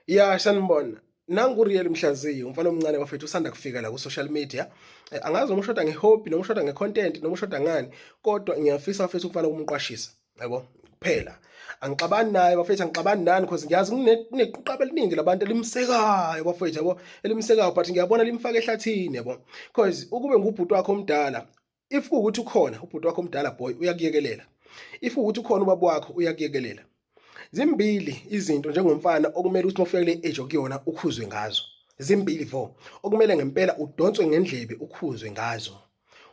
ya sanibona nanguriyeli mhlaziyi umfana omncane wafethu usanda kufika la ku-social media eh, angazi noma ushoda nge-hobby noma ushoda nge-content noma ushoda ngani kodwa ngiyafisa wafethu umfana ukumqwashisa yabo kuphela angixabani naye bafethu angixabani nani because ngiyazi kunequqaba eliningi labantu elimsekayo bafethu yabo elimsekayo but ngiyabona limfaka ehlathini yabo because ukube ngubhuti wakho omdala if kuwukuthi ukhona ubhuti wakho omdala boy uyakuyekelela if ukuthi ukhona ubaba wakho uyakuyekelela zimbili izinto njengomfana okumele ukuthi mofika kule age okuyona ukhuzwe ngazo zimbili vo okumele ngempela udonswe ngendlebe ukhuzwe ngazo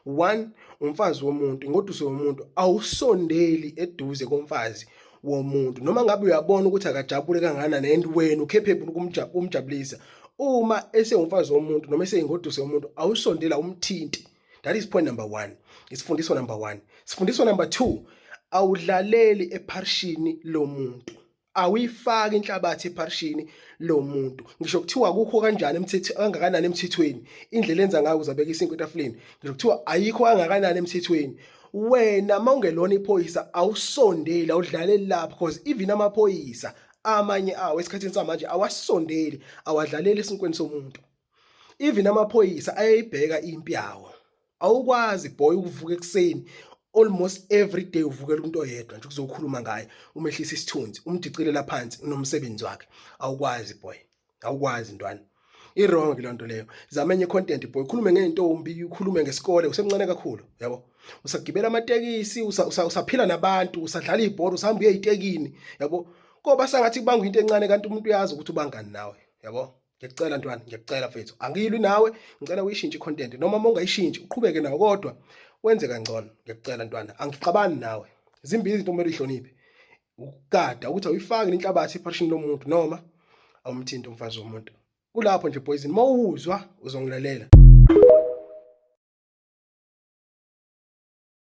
one umfazi womuntu ingoduso womuntu awusondeli eduze komfazi womuntu noma ngabe uyabona ukuthi akajabule kanganani and wena ukhephebula ukumjabulisa uma esewumfazi womuntu noma eseyingoduso yomuntu awusondela umthinti that is point number one isifundiso number one sifundiso number two awudlaleli epharishini lomuntu awuyifaki inhlabathi epharishini lomuntu ngisho kuthiwa akukho kanjani emthetho kangakanani emthethweni indlela enza ngayo uzabeka isinkwe etafuleni ngisho kuthiwa ayikho kangakanani emthethweni wena mawungelona iphoyisa awusondeli awudlaleli lapho because even amaphoyisa amanye awo esikhathini samanje awasondeli awadlaleli esinkweni somuntu even amaphoyisa ayayibheka impi yawo awukwazi boy ukuvuka ekuseni almost every day uvukela umuntu oyedwa nje kuzokhuluma ngaye umehlisa isithunzi umdicilela phansi unomsebenzi wakhe awukwazi boy awukwazi ntwana iwrong le nto leyo zama enye content boy khulume ngentombi ukhulume ngesikole usemncane kakhulu yabo usagibela amatekisi usaphila nabantu usadlala ibhola usahamba uye itekini yabo koba sangathi kubanga into encane kanti umuntu uyazi ukuthi ubangani nawe yabo ngiyacela ntwana ngiyacela mfethu angiyilwi nawe ngicela uyishintshe icontent noma uma ungayishintshi uqhubeke nawo kodwa wenze kangcono ngiyacela ntwana angixabani nawe zimbili izinto kumele uyihloniphe ukugada ukuthi awuyifaki inhlabathi ephashini lomuntu noma awumthinti umfazi womuntu kulapho nje poison uma uwuzwa uzongilalela